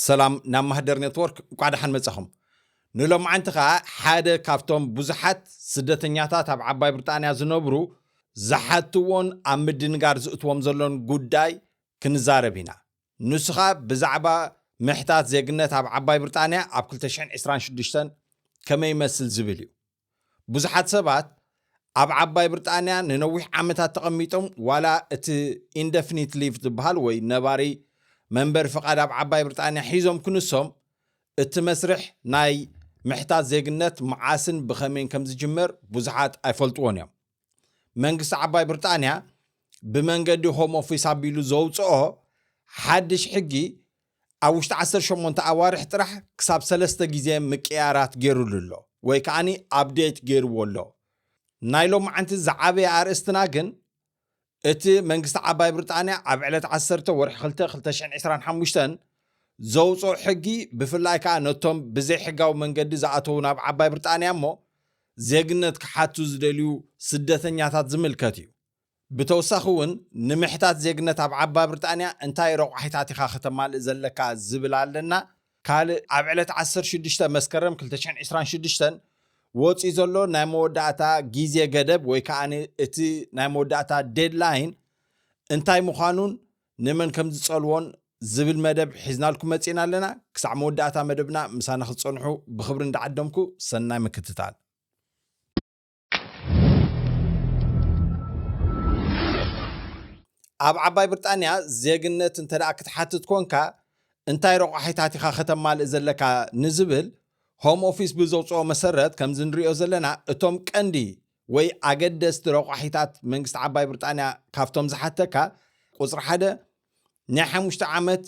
ሰላም ናብ ማህደር ኔትወርክ እንኳዕ ደሓን መጻኹም ንሎማዓንቲ ከዓ ሓደ ካብቶም ብዙሓት ስደተኛታት ኣብ ዓባይ ብሪጣንያ ዝነብሩ ዝሓትዎን ኣብ ምድንጋር ዝእትዎም ዘሎን ጉዳይ ክንዛረብ ኢና ንሱ ከዓ ብዛዕባ ምሕታት ዜግነት ኣብ ዓባይ ብሪጣንያ ኣብ 226 ከመይ ይመስል ዝብል እዩ ብዙሓት ሰባት ኣብ ዓባይ ብርጣንያ ንነዊሕ ዓመታት ተቐሚጦም ዋላ እቲ ኢንደፍኒት ሊቭ ዝበሃል ወይ ነባሪ መንበሪ ፍቓድ ኣብ ዓባይ ብርጣንያ ሒዞም ክንሶም እቲ መስርሕ ናይ ምሕታት ዜግነት መዓስን ብኸመይን ከም ዝጅመር ብዙሓት ኣይፈልጥዎን እዮም። መንግስቲ ዓባይ ብርጣንያ ብመንገዲ ሆም ኦፊስ ኣቢሉ ዘውጽኦ ሓድሽ ሕጊ ኣብ ውሽጢ 18 ኣዋርሕ ጥራሕ ክሳብ ሰለስተ ግዜ ምቅያራት ገይሩሉ ኣሎ ወይ ከዓኒ ኣብዴት ገይርዎ ኣሎ ናይ ሎማዓንቲ ዝዓበየ ኣርእስትና ግን እቲ መንግስቲ ዓባይ ብርጣንያ ኣብ ዕለት ዓሰርተ ወርሒ ክልተ ክልተ ሽሕን ዕስራን ሓሙሽተን ዘውጽኦ ሕጊ ብፍላይ ከኣ ነቶም ብዘይሕጋዊ መንገዲ ዝኣተዉ ናብ ዓባይ ብርጣንያ እሞ ዜግነት ክሓቱ ዝደልዩ ስደተኛታት ዝምልከት እዩ። ብተውሳኺ እውን ንምሕታት ዜግነት ኣብ ዓባይ ብርጣንያ እንታይ ረቋሒታት ኢኻ ከተማልእ ዘለካ ዝብል ኣለና። ካልእ ኣብ ዕለት ዓሰርተ ሽዱሽተ መስከረም ክልተ ሽሕን ዕስራን ሽዱሽተን ወጺኡ ዘሎ ናይ መወዳእታ ግዜ ገደብ ወይ ከኣ እቲ ናይ መወዳእታ ዴድላይን እንታይ ምዃኑን ንመን ከም ዝጸልዎን ዝብል መደብ ሒዝናልኩም መጺእና ኣለና። ክሳዕ መወዳእታ መደብና ምሳና ክትጸንሑ ብኽብሪ እንዳዓደምኩ ሰናይ ምክትታል። ኣብ ዓባይ ብርጣንያ ዜግነት እንተ ክትሓትት ኮንካ እንታይ ረቋሒታት ኢኻ ከተማልእ ዘለካ ንዝብል ሆም ኦፊስ ብዘውፅኦ መሰረት ከምዚ ንሪኦ ዘለና እቶም ቀንዲ ወይ ኣገደስቲ ረቋሒታት መንግስቲ ዓባይ ብርጣንያ ካብቶም ዝሓተካ ቁፅሪ ሓደ ናይ ሓሙሽተ ዓመት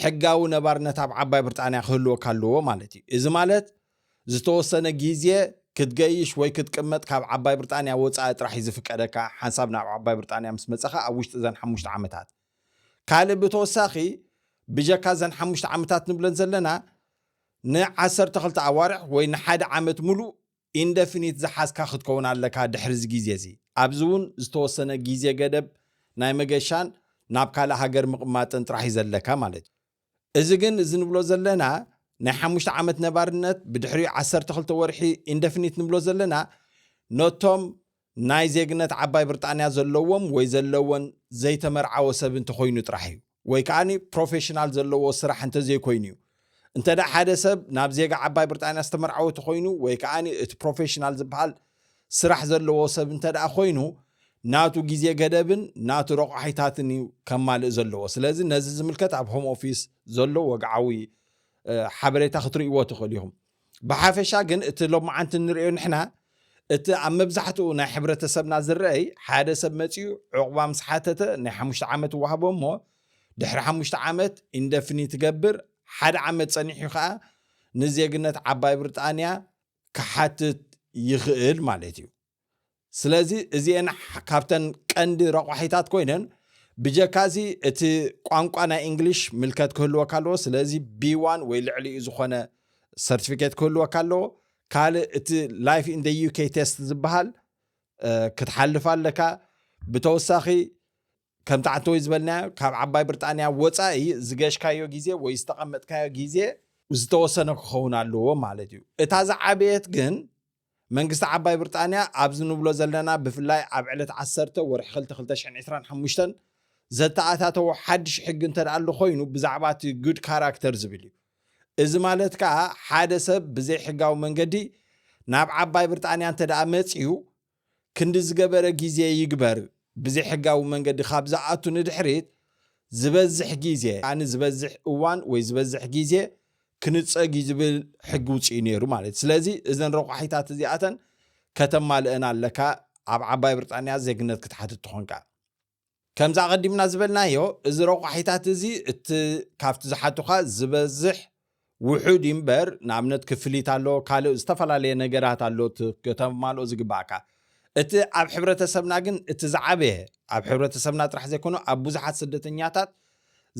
ሕጋዊ ነባርነት ኣብ ዓባይ ብርጣንያ ክህልወካ ኣለዎ ማለት እዩ። እዚ ማለት ዝተወሰነ ግዜ ክትገይሽ ወይ ክትቅመጥ ካብ ዓባይ ብርጣንያ ወጻኢ ጥራሕ እዩ ዝፍቀደካ፣ ሓንሳብ ናብ ዓባይ ብርጣንያ ምስ መጸኻ ኣብ ውሽጢ እዘን ሓሙሽተ ዓመታት። ካልእ ብተወሳኺ ብጀካ እዘን ሓሙሽተ ዓመታት ንብለን ዘለና ን ዓሰርተ ክልተ ኣዋርሕ ወይ ንሓደ ዓመት ምሉእ ኢንደፊኒት ዝሓዝካ ክትከውን ኣለካ ድሕሪ እዚ ግዜ እዚ። ኣብዚ እውን ዝተወሰነ ግዜ ገደብ ናይ መገሻን ናብ ካልእ ሃገር ምቕማጥን ጥራሕ እዩ ዘለካ ማለት እዩ። እዚ ግን እዚ ንብሎ ዘለና ናይ ሓሙሽተ ዓመት ነባርነት ብድሕሪኡ ዓሰርተ ክልተ ወርሒ ኢንደፊኒት ንብሎ ዘለና ነቶም ናይ ዜግነት ዓባይ ብርጣንያ ዘለዎም ወይ ዘለወን ዘይተመርዓወ ሰብ እንተኾይኑ ጥራሕ እዩ። ወይ ከኣ ፕሮፌሽናል ዘለዎ ስራሕ እንተዘይኮይኑ እዩ። እንተድኣ ሓደ ሰብ ናብ ዜጋ ዓባይ ብርጣንያ ዝተመርዓወ ተኾይኑ ወይ ከኣ እቲ ፕሮፌሽናል ዝበሃል ስራሕ ዘለዎ ሰብ እንተድኣ ኮይኑ ናቱ ግዜ ገደብን ናቱ ረቋሒታትን እዩ ከማልእ ዘለዎ። ስለዚ ነዚ ዝምልከት ኣብ ሆም ኦፊስ ዘሎ ወግዓዊ ሓበሬታ ክትርእይዎ ትኽእሉ ኢኹም። ብሓፈሻ ግን እቲ ሎምዓንቲ እንርእዮ ንሕና እቲ ኣብ መብዛሕትኡ ናይ ሕብረተሰብና ዝረኣይ ሓደ ሰብ መጺኡ ዑቕባ ምስ ሓተተ ናይ ሓሙሽተ ዓመት ይወሃቦ እሞ ድሕሪ ሓሙሽተ ዓመት ኢንደፍኒት ይገብር ሓደ ዓመት ጸኒሑ ከኣ ንዜግነት ዓባይ ብርጣንያ ክሓትት ይኽእል ማለት እዩ። ስለዚ እዚኤን ካብተን ቀንዲ ረቋሒታት ኮይነን ብጀካ እዚ እቲ ቋንቋ ናይ እንግሊሽ ምልከት ክህልወካ ኣለዎ ስለዚ ቢዋን ወይ ልዕሊኡ ዝኾነ ሰርቲፊኬት ክህልወካ ኣለዎ ካልእ እቲ ላይፍ ኢን ዩኬ ቴስት ዝበሃል ክትሓልፍ ኣለካ ብተወሳኺ ከምቲ ዓንተ ወይ ዝበልናዮ ካብ ዓባይ ብርጣንያ ወፃኢ ዝገሽካዮ ግዜ ወይ ዝተቐመጥካዮ ግዜ ዝተወሰነ ክኸውን ኣለዎ ማለት እዩ እታ ዝዓበየት ግን መንግስቲ ዓባይ ብርጣንያ ኣብዚ ንብሎ ዘለና ብፍላይ ኣብ ዕለት ዓሰርተ ወርሒ ክልተ ክልተ ሽሕን ዕስራን ሓሙሽተን ዘተኣታተዎ ሓድሽ ሕጊ እንተድኣሉ ኮይኑ ብዛዕባ እቲ good character ዝብል እዩ። እዚ ማለት ከኣ ሓደ ሰብ ብዘይሕጋዊ መንገዲ ናብ ዓባይ ብርጣንያ እንተድኣ መጺኡ ክንዲ ዝገበረ ግዜ ይግበር ብዘይሕጋዊ መንገዲ ካብ ዝኣቱ ንድሕሪት ዝበዝሕ ግዜ ኣን ዝበዝሕ እዋን ወይ ዝበዝሕ ግዜ ክንጸግ እዩ ዝብል ሕጊ ውጽኡ ነይሩ ማለት እዩ ስለዚ እዘን ረቋሒታት እዚኣተን ከተማልእን ኣለካ ኣብ ዓባይ ብርጣንያ ዜግነት ክትሓትት ትኾንካ ከምዚ ኣቐዲምና ዝበልናዮ፣ እዚ ረቋሒታት እዚ እቲ ካብቲ ዝሓቱኻ ዝበዝሕ ውሑድ እዩ እምበር፣ ንኣብነት ክፍሊት ኣሎ፣ ካልእ ዝተፈላለየ ነገራት ኣሎ እቲ ከተማልኦ ዝግበኣካ። እቲ ኣብ ሕብረተሰብና ግን እቲ ዝዓበየ፣ ኣብ ሕብረተሰብና ጥራሕ ዘይኮነ ኣብ ብዙሓት ስደተኛታት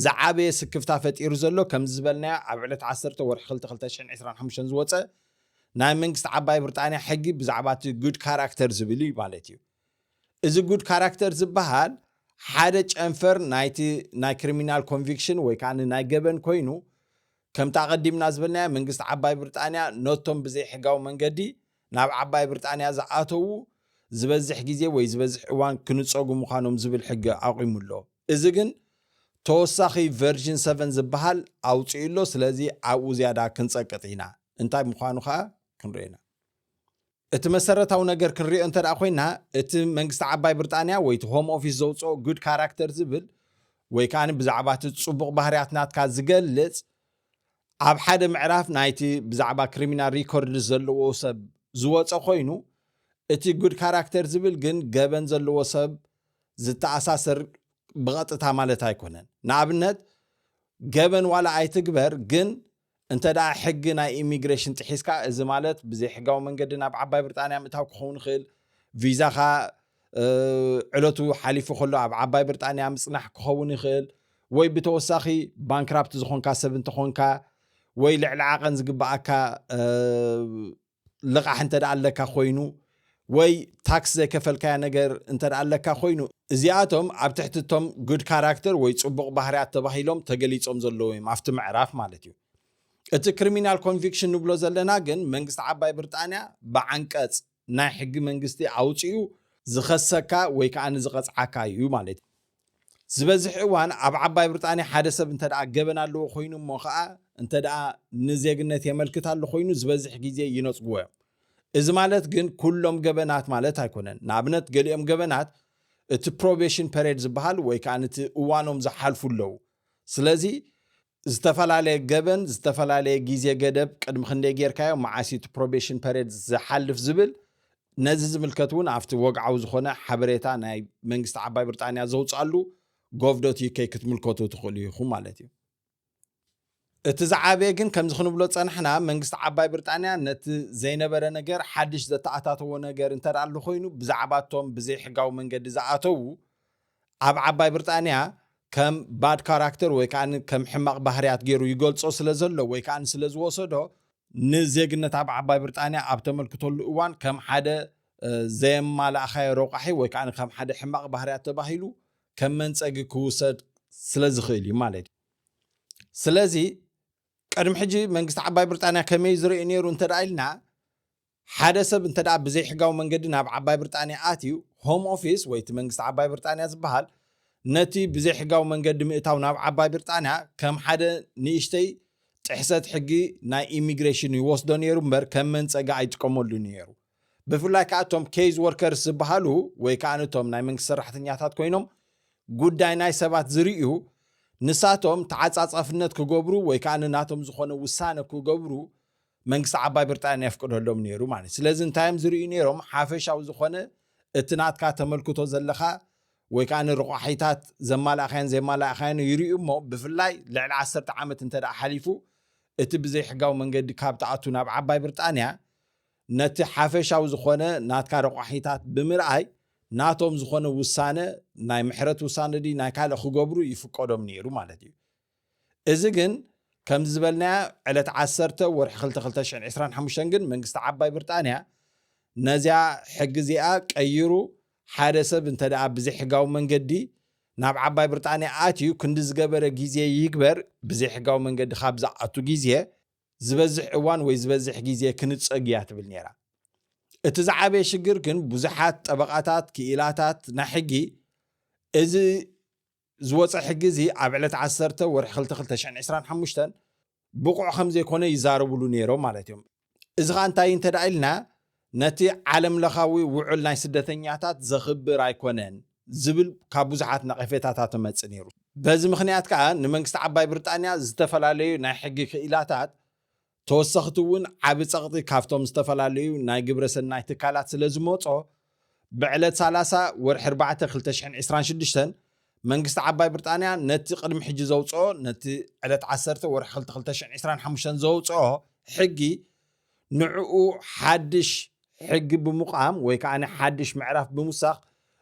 ዝዓበየ ስክፍታ ፈጢሩ ዘሎ ከምዚ ዝበልናዮ ኣብ ዕለት ዓሰርተ ወርሒ ክልተ ክልተ ሽሕን ዕስራን ሓሙሽተን ዝወጸ ናይ መንግስቲ ዓባይ ብርጣንያ ሕጊ ብዛዕባ እቲ Good Character ዝብል እዩ ማለት እዩ። እዚ ጉድ ካራክተር ዝበሃል ሓደ ጨንፈር ናይቲ ናይ ክሪሚናል ኮንቪክሽን ወይ ከዓ ናይ ገበን ኮይኑ ከምቲ ኣቐዲምና ዝበልናዮ መንግስቲ ዓባይ ብርጣንያ ነቶም ብዘይሕጋዊ መንገዲ ናብ ዓባይ ብርጣንያ ዝኣተዉ ዝበዝሕ ግዜ ወይ ዝበዝሕ እዋን ክንፀጉ ምዃኖም ዝብል ሕጊ ኣቑሙ ኣሎ። እዚ ግን ተወሳኺ ቨርዥን ሰቨን ዝበሃል ኣውፂኡ ኣሎ። ስለዚ ኣብኡ ዝያዳ ክንፀቅጥ ኢና። እንታይ ምዃኑ ከዓ ክንሪኦ ኢና። እቲ መሰረታዊ ነገር ክንሪኦ እንተድኣ ኮይና እቲ መንግስቲ ዓባይ ብርጣንያ ወይ እቲ ሆም ኦፊስ ዘውጽኦ good character ዝብል ወይ ከኣ ብዛዕባ እቲ ጽቡቕ ባህርያት ናትካ ዝገልጽ ኣብ ሓደ ምዕራፍ ናይቲ ብዛዕባ ክሪሚናል ሪኮርድስ ዘለዎ ሰብ ዝወጸ ኮይኑ እቲ good character ዝብል ግን ገበን ዘለዎ ሰብ ዝተኣሳሰር ብቐጥታ ማለት ኣይኮነን። ንኣብነት ገበን ዋላ ኣይትግበር ግን እንተድኣ ሕጊ ናይ ኢሚግሬሽን ጥሒስካ፣ እዚ ማለት ብዘይሕጋዊ መንገዲ ናብ ዓባይ ብርጣንያ ምእታው ክኸውን ይኽእል፣ ቪዛኻ ዕለቱ ሓሊፉ ከሎ ኣብ ዓባይ ብርጣንያ ምጽናሕ ክኸውን ይኽእል፣ ወይ ብተወሳኺ ባንክራፕት ዝኾንካ ሰብ እንተኾንካ፣ ወይ ልዕሊ ዓቐን ዝግበኣካ ልቓሕ እንተ ደኣ ኣለካ ኮይኑ ወይ ታክስ ዘይከፈልካዮ ነገር እንተ ደኣ ኣለካ ኮይኑ፣ እዚኣቶም ኣብ ትሕቲ እቶም Good Character ወይ ጽቡቕ ባህርያት ተባሂሎም ተገሊጾም ዘለዉ እዮም፣ ኣብቲ ምዕራፍ ማለት እዩ። እቲ Criminal Conviction ንብሎ ዘለና ግን መንግስቲ ዓባይ ብርጣንያ ብዓንቀጽ ናይ ሕጊ መንግስቲ ኣውጺኡ ዝኸሰካ ወይ ከኣ ዝቐጽዓካ እዩ ማለት እዩ። ዝበዝሕ እዋን ኣብ ዓባይ ብርጣንያ ሓደ ሰብ እንተደኣ ገበን ኣለዎ ኮይኑ እሞ ከኣ እንተደኣ ንዜግነት የመልክት ኣሎ ኮይኑ ዝበዝሕ ግዜ ይነጽግዎ እዮም። እዚ ማለት ግን ኩሎም ገበናት ማለት ኣይኮነን። ንኣብነት ገሊኦም ገበናት እቲ ፕሮቤሽን ፐሬድ ዝበሃል ወይ ከኣ እቲ እዋኖም ዝሓልፉ ኣለዉ። ስለዚ ዝተፈላለየ ገበን ዝተፈላለየ ግዜ ገደብ ቅድሚ ክንደይ ጌርካዮ መዓስ እዩ እቲ ፕሮቤሽን ፐሬድ ዝሓልፍ ዝብል ነዚ ዝምልከት እውን ኣብቲ ወግዓዊ ዝኾነ ሓበሬታ ናይ መንግስቲ ዓባይ ብርጣንያ ዘውፅኣሉ ጎቭ ዶት ዩኬ ክትምልከቱ ትኽእሉ ኢኹም ማለት እዩ እቲ ዝዓበየ ግን ከምዚ ክንብሎ ፀናሕና መንግስቲ ዓባይ ብርጣንያ ነቲ ዘይነበረ ነገር ሓድሽ ዘተኣታተዎ ነገር እንተ ኣሎ ኮይኑ ብዛዕባ እቶም ብዘይሕጋዊ መንገዲ ዝኣተዉ ኣብ ዓባይ ብርጣንያ ከም ባድ ካራክተር ወይ ከኣ ከም ሕማቕ ባህርያት ገይሩ ይገልጾ ስለ ዘሎ ወይ ከኣ ስለ ዝወሰዶ ንዜግነት ኣብ ዓባይ ብርጣንያ ኣብ ተመልክተሉ እዋን ከም ሓደ ዘየማላእኻዮ ረቋሒ ወይ ከኣ ከም ሓደ ሕማቕ ባህርያት ተባሂሉ ከም መንጸጊ ክውሰድ ስለ ዝኽእል እዩ ማለት እዩ። ስለዚ ቅድሚ ሕጂ መንግስቲ ዓባይ ብርጣንያ ከመይ እዩ ዝርእይ ነይሩ እንተ ኢልና ሓደ ሰብ እንተድኣ ብዘይሕጋዊ መንገዲ ናብ ዓባይ ብርጣንያ ኣትዩ፣ ሆም ኦፊስ ወይ እቲ መንግስቲ ዓባይ ብርጣንያ ዝበሃል ነቲ ብዘይሕጋዊ መንገዲ ምእታው ናብ ዓባይ ብርጣንያ ከም ሓደ ንእሽተይ ጥሕሰት ሕጊ ናይ ኢሚግሬሽን ይወስዶ ነይሩ እምበር ከም መንጸጊ ኣይጥቀመሉን እዩ ነይሩ። ብፍላይ ከኣ እቶም ኬይዝ ወርከርስ ዝበሃሉ ወይ ከኣ እቶም ናይ መንግስቲ ሰራሕተኛታት ኮይኖም ጉዳይ ናይ ሰባት ዝርእዩ ንሳቶም ተዓጻጻፍነት ክገብሩ ወይ ከኣ ናቶም ዝኾነ ውሳነ ክገብሩ መንግስቲ ዓባይ ብርጣንያ የፍቅደሎም ነይሩ ማለት እዩ። ስለዚ እንታይ እዮም ዝርእዩ ነይሮም? ሓፈሻዊ ዝኾነ እቲ ናትካ ተመልክቶ ዘለካ ወይ ከኣ ንርቋሒታት ዘማላእካዮን ዘይማላእካዮን ይርእዩ እሞ ብፍላይ ልዕሊ ዓሰርተ ዓመት እንተ ሓሊፉ እቲ ብዘይሕጋዊ መንገዲ ካብ ትኣቱ ናብ ዓባይ ብርጣንያ ነቲ ሓፈሻዊ ዝኾነ ናትካ ረቋሒታት ብምርኣይ ናቶም ዝኾነ ውሳነ ናይ ምሕረት ውሳነ ድዩ ናይ ካልእ ክገብሩ ይፍቀዶም ነይሩ ማለት እዩ። እዚ ግን ከምዚ ዝበልናያ ዕለት ዓሰርተ ወርሒ ክልተ ክልተ ሽሕን ዕስራን ሓሙሽተን ግን መንግስቲ ዓባይ ብርጣንያ ነዚኣ ሕጊ እዚኣ ቀይሩ ሓደ ሰብ እንተ ደኣ ብዘይሕጋዊ መንገዲ ናብ ዓባይ ብርጣንያ ኣትዩ ክንዲ ዝገበረ ግዜ ይግበር ብዘይሕጋዊ መንገዲ ካብ ዝኣቱ ግዜ ዝበዝሕ እዋን ወይ ዝበዝሕ ግዜ ክንጸግ እያ ትብል ነይራ። እቲ ዝዓበየ ሽግር ግን ብዙሓት ጠበቓታት፣ ክኢላታት ናይ ሕጊ እዚ ዝወጸ ሕጊ እዚ ኣብ ዕለት ዓሰርተ ወርሒ ክልተ ክልተ ሽሕን ዕስራን ሓሙሽተን ብቑዕ ከም ዘይኮነ ይዛረብሉ ነይሮም ማለት እዮም። እዚ ከኣ እንታይ እዩ እንተድኣ ኢልና ነቲ ዓለም ለኻዊ ውዑል ናይ ስደተኛታት ዘኽብር ኣይኮነን ዝብል ካብ ብዙሓት ነቐፌታታት እመጽእ ነይሩ። በዚ ምኽንያት ከኣ ንመንግስቲ ዓባይ ብርጣንያ ዝተፈላለዩ ናይ ሕጊ ክኢላታት ተወሰኽቲ እውን ዓቢ ጸቕጢ ካብቶም ዝተፈላለዩ ናይ ግብረ ሰናይ ትካላት ስለ ዝመጾ፣ ብዕለት ሰላሳ ወርሒ ኣርባዕተ ክልተ ሽሕን ዕስራን ሽዱሽተን መንግስቲ ዓባይ ብርጣንያ ነቲ ቅድሚ ሕጂ ዘውጽኦ ነቲ ዕለት ዓሰርተ ወርሒ ክልተ ክልተ ሽሕን ዕስራን ሓሙሽተን ዘውጽኦ ሕጊ ንዕኡ ሓድሽ ሕጊ ብምቛም ወይ ከኣ ሓድሽ ምዕራፍ ብምውሳኽ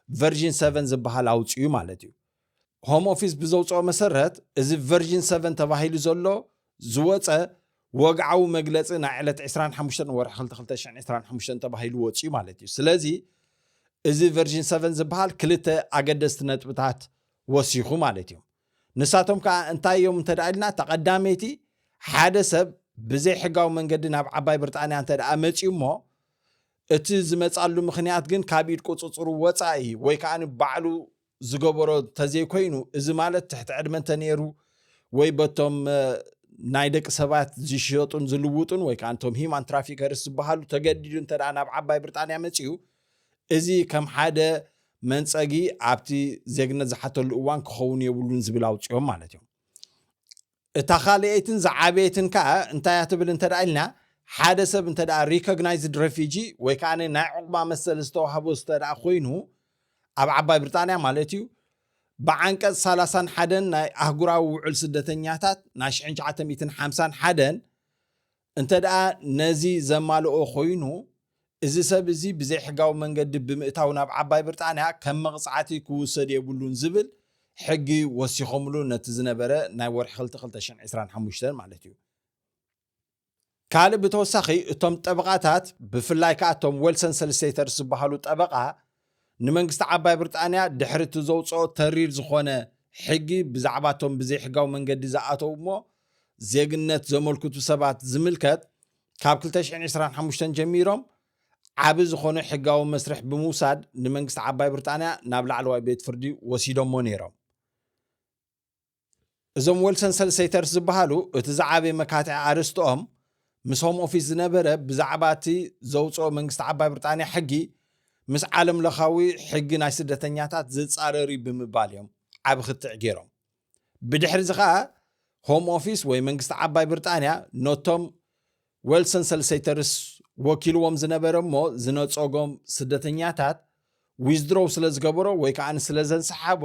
ቨርዥን ሰቨን ዝበሃል ኣውጺኡ ማለት እዩ። ሆም ኦፊስ ብዘውፅኦ መሰረት እዚ ቨርዥን ሰቨን ተባሂሉ ዘሎ ዝወፀ ወግዓዊ መግለፂ ናይ ዕለት ዕስራን ሓሙሽተን ወርሒ ክልተ ክልተ ሽሕን ዕስራን ሓሙሽተን ተባሂሉ ወፂኡ ማለት እዩ ስለዚ እዚ ቨርዥን ሰቨን ዝበሃል ክልተ ኣገደስቲ ነጥብታት ወሲኹ ማለት እዩ ንሳቶም ከዓ እንታይ እዮም እንተ ደኣ ኢልና እታ ቀዳመይቲ ሓደ ሰብ ብዘይ ሕጋዊ መንገዲ ናብ ዓባይ ብርጣንያ እንተ ደኣ መፅዩ እሞ እቲ ዝመፃሉ ምክንያት ግን ካብ ኢድ ቁፅፅሩ ወፃኢ ወይ ከዓ ባዕሉ ዝገበሮ ተዘይኮይኑ እዚ ማለት ትሕቲ ዕድመ እንተነይሩ ወይ በቶም ናይ ደቂ ሰባት ዝሸጡን ዝልውጡን ወይ ከዓ እንቶም ሂማን ትራፊከርስ ዝበሃሉ ተገዲዱ እንተ ናብ ዓባይ ብሪጣንያ መፅኡ እዚ ከም ሓደ መንፀጊ ኣብቲ ዜግነት ዝሓተሉ እዋን ክኸውን የብሉን ዝብል ኣውፅኦም ማለት እዮም እታ ካልኣይትን ዝዓበየትን ከኣ እንታይ እያ ትብል እንተ ኢልና፣ ሓደ ሰብ እንተ ሪኮግናይዝድ ረፊጂ ወይ ከኣ ናይ ዑቕባ መሰል ዝተዋህቦ እንተ ኮይኑ፣ ኣብ ዓባይ ብሪጣንያ ማለት እዩ፣ ብዓንቀጽ ሰላሳን ሓደን ናይ ኣህጉራዊ ውዑል ስደተኛታት ናይ ሽሕን ትሽዓተ ሚእትን ሓምሳን ሓደን እንተድኣ ነዚ ዘማልኦ ኮይኑ፣ እዚ ሰብ እዚ ብዘይሕጋዊ መንገዲ ብምእታው ናብ ዓባይ ብርጣንያ ከም መቕጻዕቲ ክውሰድ የብሉን ዝብል ሕጊ ወሲኾምሉ ነቲ ዝነበረ ናይ ወርሒ ክልተ ክልተ ሽሕን ዕስራን ሓሙሽተን ማለት እዩ። ካልእ ብተወሳኺ እቶም ጠበቓታት ብፍላይ ከኣ እቶም ወልሰን ሰልስቴተርስ ዝበሃሉ ጠበቓ፣ ንመንግስቲ ዓባይ ብርጣንያ ድሕሪ እቲ ዘውጽኦ ተሪር ዝኾነ ሕጊ ብዛዕባ እቶም ብዘይሕጋዊ መንገዲ ዝኣተው እሞ ዜግነት ዘመልክቱ ሰባት ዝምልከት ካብ ክልተ ሽሕን ዕስራን ሓሙሽተን ጀሚሮም ዓቢ ዝኾነ ሕጋዊ መስርሕ ብምውሳድ ንመንግስቲ ዓባይ ብርጣንያ ናብ ላዕለዋይ ቤት ፍርዲ ወሲዶሞ ነይሮም። እዞም ወልሰን ሰልሰይተርስ ዝበሃሉ እቲ ዝዓበየ መካትዒ ኣርእስትኦም ምስ ሆም ኦፊስ ዝነበረ ብዛዕባ እቲ ዘውፅኦ መንግስቲ ዓባይ ብርጣንያ ሕጊ ምስ ዓለም ለኻዊ ሕጊ ናይ ስደተኛታት ዝፃረር እዩ ብምባል እዮም ዓብ ክትዕ ገይሮም ብድሕሪ እዚ ከዓ ሆም ኦፊስ ወይ መንግስቲ ዓባይ ብርጣንያ ነቶም ወልሰን ሰልሰይተርስ ወኪልዎም ዝነበረ እሞ ዝነፀጎም ስደተኛታት ዊዝድሮው ስለ ዝገበሮ ወይ ከዓ ስለ ዘንሰሓቦ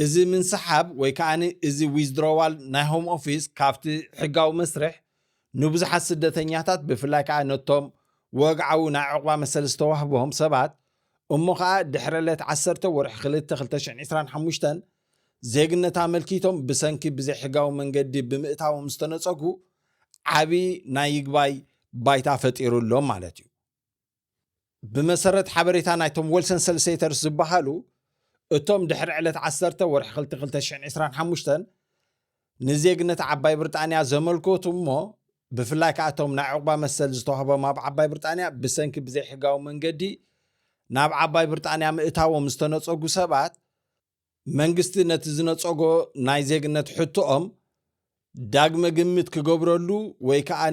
እዚ ምንስሓብ ወይ ከኣ እዚ ዊዝድሮዋል ናይ ሆም ኦፊስ ካብቲ ሕጋዊ መስርሕ ንብዙሓት ስደተኛታት ብፍላይ ከኣ ነቶም ወግዓዊ ናይ ዑቕባ መሰል ዝተዋህቦም ሰባት እሞ ከኣ ድሕረ ለት ዓሰርተ ወርሒ ክልተ ክልተ ሽሕን ዕስራን ሓሙሽተን ዜግነት ኣመልኪቶም ብሰንኪ ብዘይሕጋዊ መንገዲ ብምእታዎም ዝተነጸጉ ዓቢ ናይ ይግባይ ባይታ ፈጢሩ ኣሎ ማለት እዩ። ብመሰረት ሓበሬታ ናይቶም ወልሰን ሰልሴተርስ ዝበሃሉ እቶም ድሕሪ ዕለት ዓሰርተ ወርሒ ክልቲ ክልተ ሽሕን ዕስራን ሓሙሽተን ንዜግነት ዓባይ ብርጣንያ ዘመልከቱ እሞ ብፍላይ ከዓ እቶም ናይ ዕቑባ መሰል ዝተዋህቦም ኣብ ዓባይ ብርጣንያ ብሰንኪ ብዘይሕጋዊ መንገዲ ናብ ዓባይ ብርጣንያ ምእታዎም ዝተነፀጉ ሰባት መንግስቲ ነቲ ዝነጸጎ ናይ ዜግነት ሕቶኦም ዳግመ ግምት ክገብረሉ ወይ ከኣ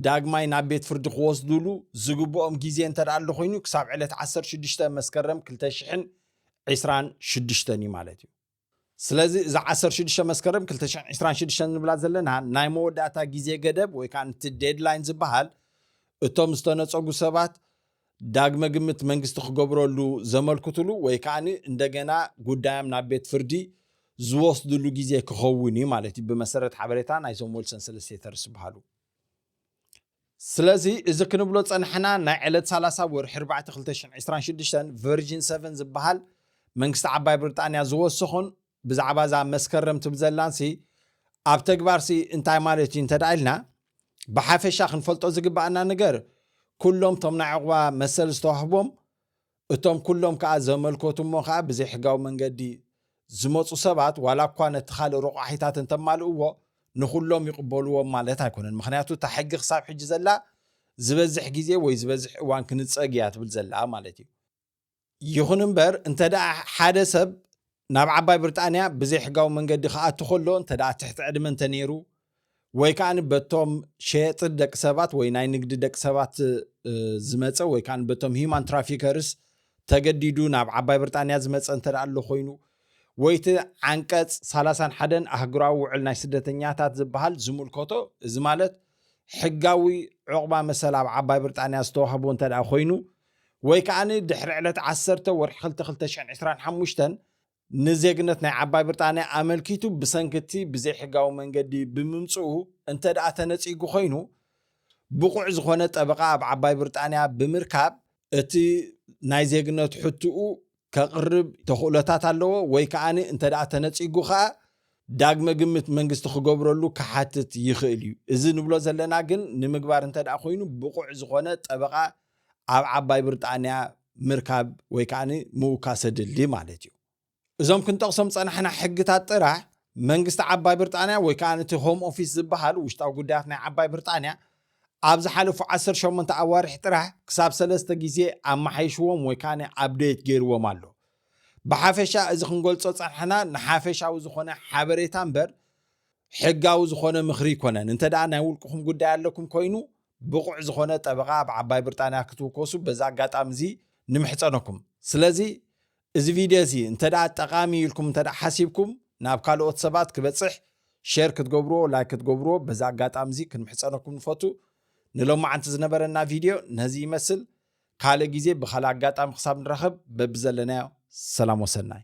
ዳግማይ ናብ ቤት ፍርዲ ክወስዱሉ ዝግብኦም ግዜ እንተደኣ ኣሎ ኮይኑ ክሳብ ዕለት ዓሰርተ ሽዱሽተ መስከረም ክልተ ሽሕን ዒስራን ሽዱሽተን እዩ ማለት እዩ። ስለዚ እዚ ዓሰርተ ሽዱሽተ መስከረም ክልተ ሽሕን ዒስራን ሽዱሽተን ንብላ ዘለና ናይ መወዳእታ ግዜ ገደብ ወይ ከኣ እቲ ዴድላይን ዝበሃል እቶም ዝተነጸጉ ሰባት ዳግመ ግምት መንግስቲ ክገብረሉ ዘመልክትሉ ወይ ከዓ እንደገና ጉዳዮም ናብ ቤት ፍርዲ ዝወስድሉ ግዜ ክኸውን እዩ ማለት እዩ ብመሰረት ሓበሬታ ናይዞም ወልሰን ሰለስቴተርስ ዝበሃሉ ስለዚ እዚ ክንብሎ ፀናሕና ናይ ዕለት ሰላሳ ወርሒ ኣርባዕተ ክልተ ሽሕን ዕስራን ሽዱሽተን ቨርጂን ሰቨን ዝበሃል መንግስቲ ዓባይ ብሪጣንያ ዝወሰኾን ብዛዕባ እዛ መስከረም ትብል ዘላንሲ ኣብ ተግባርሲ እንታይ ማለት እዩ እንተድኣ ኢልና ብሓፈሻ ክንፈልጦ ዝግብኣና ነገር ኩሎም እቶም ናይ ዑቕባ መሰል ዝተዋህቦም እቶም ኩሎም ከኣ ዘመልከቱ እሞ ከኣ ብዘይሕጋዊ መንገዲ ዝመጹ ሰባት ዋላ እኳ ነቲ ካልእ ረቋሒታት እንተማልእዎ ንኹሎም ይቕበልዎም ማለት ኣይኮነን ምክንያቱ እታ ሕጊ ክሳብ ሕጂ ዘላ ዝበዝሕ ግዜ ወይ ዝበዝሕ እዋን ክንጸግ እያ ትብል ዘላ ማለት እዩ ይኹን እምበር እንተደኣ ሓደ ሰብ ናብ ዓባይ ብርጣንያ ብዘይሕጋዊ መንገዲ ክኣቱ ከሎ እንተደኣ ትሕቲ ዕድመ እንተነይሩ ወይ ከዓኒ በቶም ሸየጥት ደቂ ሰባት ወይ ናይ ንግዲ ደቂ ሰባት ዝመፀ ወይ ከዓ በቶም ሂማን ትራፊከርስ ተገዲዱ ናብ ዓባይ ብርጣንያ ዝመፀ እንተ ኣሎ ኮይኑ ወይቲ ዓንቀፅ ሳላሳን ሓደን ኣህግራዊ ውዕል ናይ ስደተኛታት ዝበሃል ዝምልከቶ እዚ ማለት ሕጋዊ ዕቑባ መሰል ኣብ ዓባይ ብርጣንያ ዝተዋህቦ እንተ ኮይኑ ወይ ከኣ ድሕሪ ዕለት ዓሰርተ ወርሒ ክልተ ክልተ ሽሕን ዕስራን ሓሙሽተን ንዜግነት ናይ ዓባይ ብርጣንያ ኣመልኪቱ ብሰንኪ እቲ ብዘይሕጋዊ መንገዲ ብምምጽኡ እንተድኣ ተነጺጉ ኮይኑ ብቑዕ ዝኾነ ጠበቓ ኣብ ዓባይ ብርጣንያ ብምርካብ እቲ ናይ ዜግነት ሕትኡ ከቕርብ ተኽእሎታት ኣለዎ ወይ ከኣ እንተድኣ ተነጺጉ ከኣ ዳግመ ግምት መንግስቲ ክገብረሉ ክሓትት ይኽእል እዩ። እዚ ንብሎ ዘለና ግን ንምግባር እንተድኣ ኮይኑ ብቑዕ ዝኾነ ጠበቓ ኣብ ዓባይ ብርጣንያ ምርካብ ወይ ከኣ ምውካሰ ድልድይ ማለት እዩ። እዞም ክንጠቕሶም ዝጸናሕና ሕግታት ጥራሕ፣ መንግስቲ ዓባይ ብርጣንያ ወይ ከኣ እቲ ሆም ኦፊስ ዝበሃል ውሽጣዊ ጉዳያት ናይ ዓባይ ብርጣንያ፣ ኣብ ዝሓለፉ ዓሰርተ ሸሞንተ ኣዋርሕ ጥራሕ ክሳብ ሰለስተ ግዜ ኣመሓይሽዎም ወይ ከኣ ኣብደይት ገይርዎም ኣሎ። ብሓፈሻ እዚ ክንገልጾ ዝጸናሕና ንሓፈሻዊ ዝኾነ ሓበሬታ እምበር ሕጋዊ ዝኾነ ምኽሪ ኣይኮነን። እንተደኣ ናይ ውልቅኹም ጉዳይ ኣለኩም ኮይኑ፣ ብቑዕ ዝኾነ ጠበቓ ኣብ ዓባይ ብርጣንያ ክትውከሱ በዚ ኣጋጣሚ እዚ ንምሕጸነኩም። ስለዚ እዚ ቪድዮ እዚ እንተ ጠቓሚ እዩ ኢልኩም እንተ ሓሲብኩም ናብ ካልኦት ሰባት ክበጽሕ ሼር ክትገብርዎ ላይክ ክትገብርዎ በዚ ኣጋጣሚ እዚ ክንምሕጸነኩም ንፈቱ። ንሎማዓንቲ ዝነበረና ቪድዮ ነዚ ይመስል። ካልእ ግዜ ብካልእ ኣጋጣሚ ክሳብ ንራኸብ በብዘለናዮ ሰላም ወሰናይ።